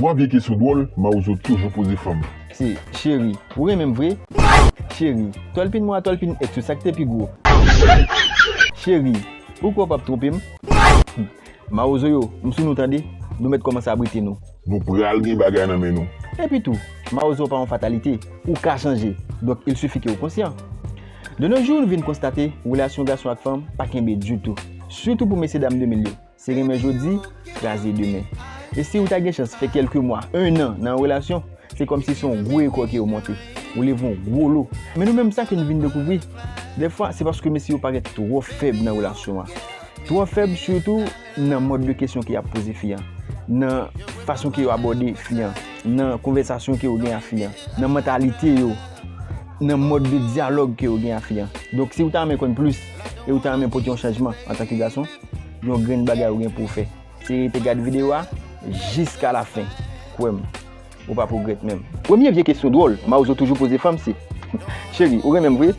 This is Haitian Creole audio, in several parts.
Bwa vye kesyon dwòl mawozo toujou poze fanm. Se cheri ou renmenm vre. Cheri tòlpin mwen a tòlpin ex yo sak te pi gwo. Cheri ou kwè ou pap twonpe m. Humm mawozo yo m sou nou tande nou mèt kòmanse abrite nou. Nou pral gen bagay nan men nou. Epi tou mawozo pa yon fatalite ou ka chanje donk il sifi ke ou konsyan. De no jou nou vin konstate relasyon gason ak fanm pa kenbe ditou sitou pou mesye dam 2000 yo. Se renmen jodi, kraze demen. E si ou ta gen chans fè kèlke mwa, 1 an, nan yon relasyon, se kòmsi se yon gwo ekò ke yo monte. Ou leve yon gwo lo. Men nou menm sa ke nou vin dekouvri, dèfwa se paske mesye yo parèt twò fèb nan relasyon an. Twò fèb sitou nan mòd de kesyon ke y ap poze fi an, nan fason ke yo abòde fi an, nan konvèsasyon ke yo gen a fi an, nan mantalite yo, nan mòd de dyalòg ke yo gen a fi an. Donk si ou ta renmen konn plis e ou ta renmen pote yon chanjman antanke gason, yon grenn bagay ou gen pou w fè. Se rete gad videyo a jiska lafen, kwè m, ou pap regrèt menm. Premye vye kesyon dwòl Mawozo toujou poze fanm se, Cheri, ou renmen m vre?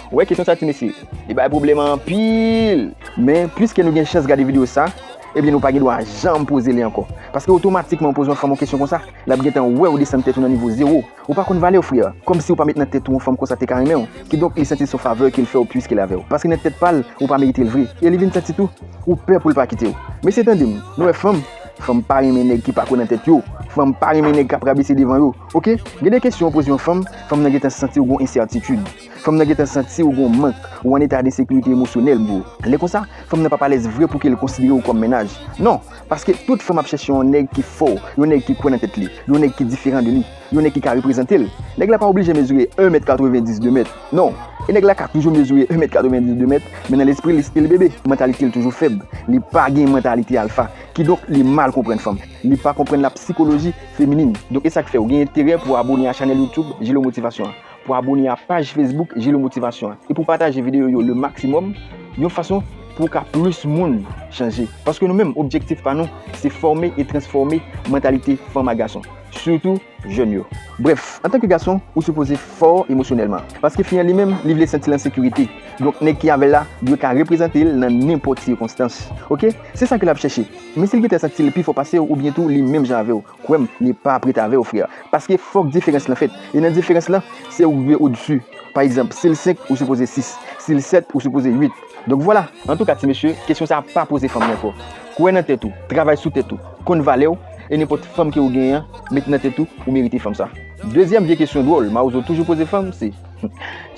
Ou wè kesyon sa ti mesye, li bay pwoblèm anpil! Men, piske nou gen chans gade videyo sa, ebyen nou pa gen dwa janm poze li ankò. Paske otomatikman ou poze yon fanm yon kesyon konsa, l ap gentan wè ou desann tèt ou nan nivo zewo. Ou pa konn valèw frère, kòm siw pa met nan tèt ou yon fanm konsa teka renmenw, kidonk li santi son favè kel fèw pwiskel avèw, paske nan tèt pal ou pa meritel vre, e li vin santi tou ou pè poul pa kitew. Mesye tandem, nou wè fanm, fanm pa renmen nèg ki pako nan tèt yo, fanm pa renmen nèg kap rabese devan yo, ok, gen de kesyon ou poze yon fanm, fanm nan gentan santiw gon ensètitud. Fanm nan gentan santi ou gen yon mank, ou an eta de sekirite emosyonèl bro. Lè konsa, fanm nan pap alèz vre pou kel konsidere ou kòm mennaj. Non! Paske tout fanm ap chèche yon nèg ki fò, yon nèg ki kwè nan tèt li, yon nèg ki diferan de li, yon nèg ki ka reprezantel. Nèg la pa oblije mezire 1 mèt 90 2 mèt. Non! E nèg la ka toujou mezire 1 mèt 90 2 mèt, men nan lespri li stil bebe, mantalite l toujou fèb. Li pa gen mantalite alfa. Kidonk li mal konprann fanm. Li pa konprann la psychologie féminine. Donk esak fèw gen enterè pou abone a chanèl YouTube Jilo Motivation an. pou abone a paj Facebook Jilo Motivasyon an e pou pataje videyo yo le maksimòm yon fason pou ka plis moun chanje. Paske nou menm objektif pa nou se fòme e transfòme mantalite fanm a gason, sitou jèn yo. Brèf, antanke gason, ou sipoze fò emosyonèlman. Paske fi an li menm, li vle santi l an sekirite. Donk nèg ki avè l la dwe ka reprezante l nan nenpòt sikonstans. Ok? Se sa ke l ap chèche. Men si l gentan santi l pi fò pase w oubyen tou li menm jan avè w, Kwè m, li pa ap ret avè w frè. Paske fòk diferans lan fèt. E nan diferans lan, se ou k dwe odsu. Pa egzanp, si l 5, ou sipoze 6. Si l 7, ou sipoze 8. Donk vwala! Antouka ti mesye, kesyon sa a pa poze fanm yo ankò. Kwè nan tèt ou, travay sou tèt ou, konn valè w, e nenpòt fanm ke ou genyen an, met nan tèt ou, ou merite fanm sa. Dezyèm vye kesyon dwòl mawozo toujou poze fanm se,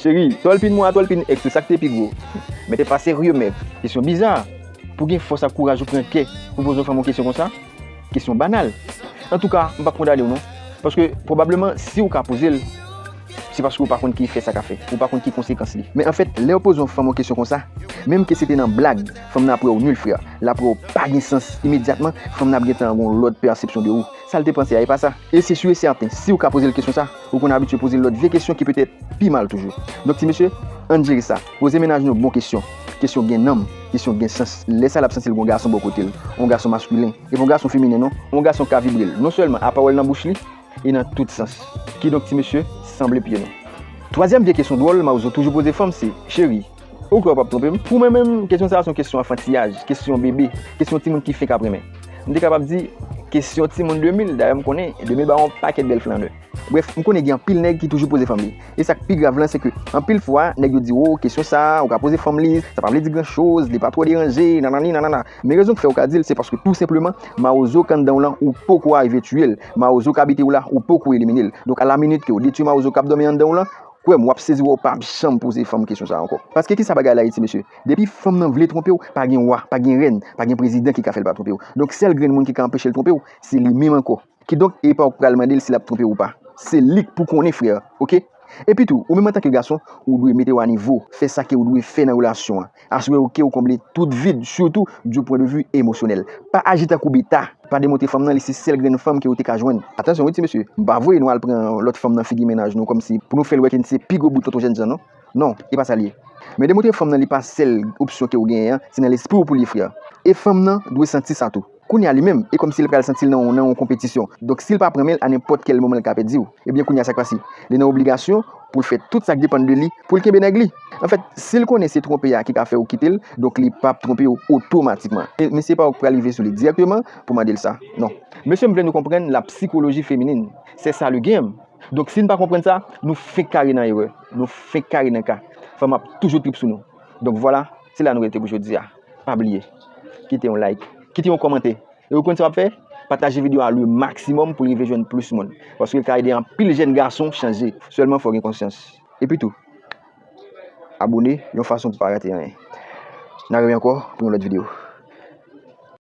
Cheri, tòlpin mwen a tòlpin èks ou sa k te pi gwo? Men te pa serye mèt! Kesyon biza! Pou gen fòs ak kouraj ou pran kè pou poze yon fanm yon kesyon konsa? Kesyon banal. Antouka, m pap kondane w non. Paske, pwobableman, si w ka poze l, se paske w pa konn ki efè sa ka fè. Ou pa konn ki konsekans li. Men anfèt, lè yo poze yon fanm yon kesyon konsa, menm ke se te nan blag, fanm nan ap wè w nul frè. L ap wè w pa gen sans. Imedyatman, fanm nan ap gen tan gon lòt pèsepsyon de ou. Sa l te panse a, e pa sa. E se sur et certain, si w ka poze l kesyon sa, ou konn abitye poze l lòt vye kesyon ki petèt pi mal toujou. Donk ti mesye, ann jere sa. Poze mennaj nou bon kesyon. Kesyon gen nanm, kesyon gen sans. Lè sa l ap santi l gen yon gason bò kote l. Yon gason maskilen. E pa yon gason feminen non. Yon gason k ka vibre l. Non sèlman a pawòl nan bouch li, e nan tout sans. Kidonk ti mesye, sanble pye nou. Twazyèm vye kesyon dwòl mawozo toujou poze fanm se, Cheri, ou kwè w p ap twonpe m? Pou mwen menm, kesyon sa a se yon kesyon anfantiyaj, kesyon bebe, kesyon timoun ki fenk ap renmen. M te kapab di, kesyon timoun 2000. Dayè m konnen 2000 ba yon pakèt bèl flannè. Brèf, m konnen gen anpil nèg ki toujou poze fanm li. E sak pi grav lan se ke anpil fwa nèg yo di oh kesyon sa ou ka poze fanm li sa pa vle di gran choz li pa two deranje nanani nanana men rezon ki fè ou ka dil se paske tou senpleman mawozo k anndanw lan ou poko arive tiyel mawozo k abitew la ou poko eliminel donk a la minit ke ou detwi mawozo kap domi anndanw lan kwèm wap sezi wè ou pap janm poze fanm kesyon sa ankò paske kisa bagay la ye ti mesye depi fanm nan vle twonpew pa gen wa pa gen rèn pa gen prezidan ki ka fèl pa twonpew donk sèl grenn moun ki ka anpechel twonpew se li menm ankò. Kidonk e pa ou k pral mande l si l ap twonpe w ou pa. Se li k pou konnen frè ok. Epitou ou menm antanke gason ou dwe mete w a nivo, fè sa ke ou dwe fè nan relasyon an. Asire w ke ou konble tout vid sitou du pwen de vu emosyonèl. Pa aji tankou beta, pa demontre fanm nan li se sèl grenn fanm ke ou te ka jwenn. Atansyon wi ti mesye, m pa voye nou al pran lòt fanm nan figi mennaj nou kòmsi pou nou fè l wè ke n se pi gwo bout tonton jènjan non. Non, e pa sa l ye. Men demontre fanm nan li pa sèl opsyon ke ou genyen an, se nan lespri w pou l ye frè. E fanm nan dwe santi sa tou. Kounya li menm, e kòmsi li pral santi l nan yon konpetisyon. Donk si li pa pran men l, a nenpòt kèl moman li ka pèdi w. Ebyen kounya sa k pase? Li nan obligasyon pou l fè tout sa k depann de li pou l kenbe nèg li. Anfèt, si l konnen se twonpe a ki ka fè ou kite l, donk li pa p twonpe ou otomatikman. E misye pa ou k pral rive sou li dirèkteman pou mande l sa. Non. Mesye m vle nou konprann la psychologie féminine. C'est ça le game. Donk si n pa konprann sa, nou fenk kare nan erè. Nou fenk kare nan ka. Fanm ap toujou trip sou nou. Donk vwala, se la nou rete pou jodi a. Pa bliye, kite yon like, kite yon kòmante. E ou konn sa w ap fè? Pataje videyo a le maksimòm pou l rive jwenn plis moun. Paske l ka ede anpil jèn gason chanje. Sèlman fò w gen konsyans. Epi tou, abone yon fason pou pa rate anyen. N a reve ankò pou yon lòt videyo.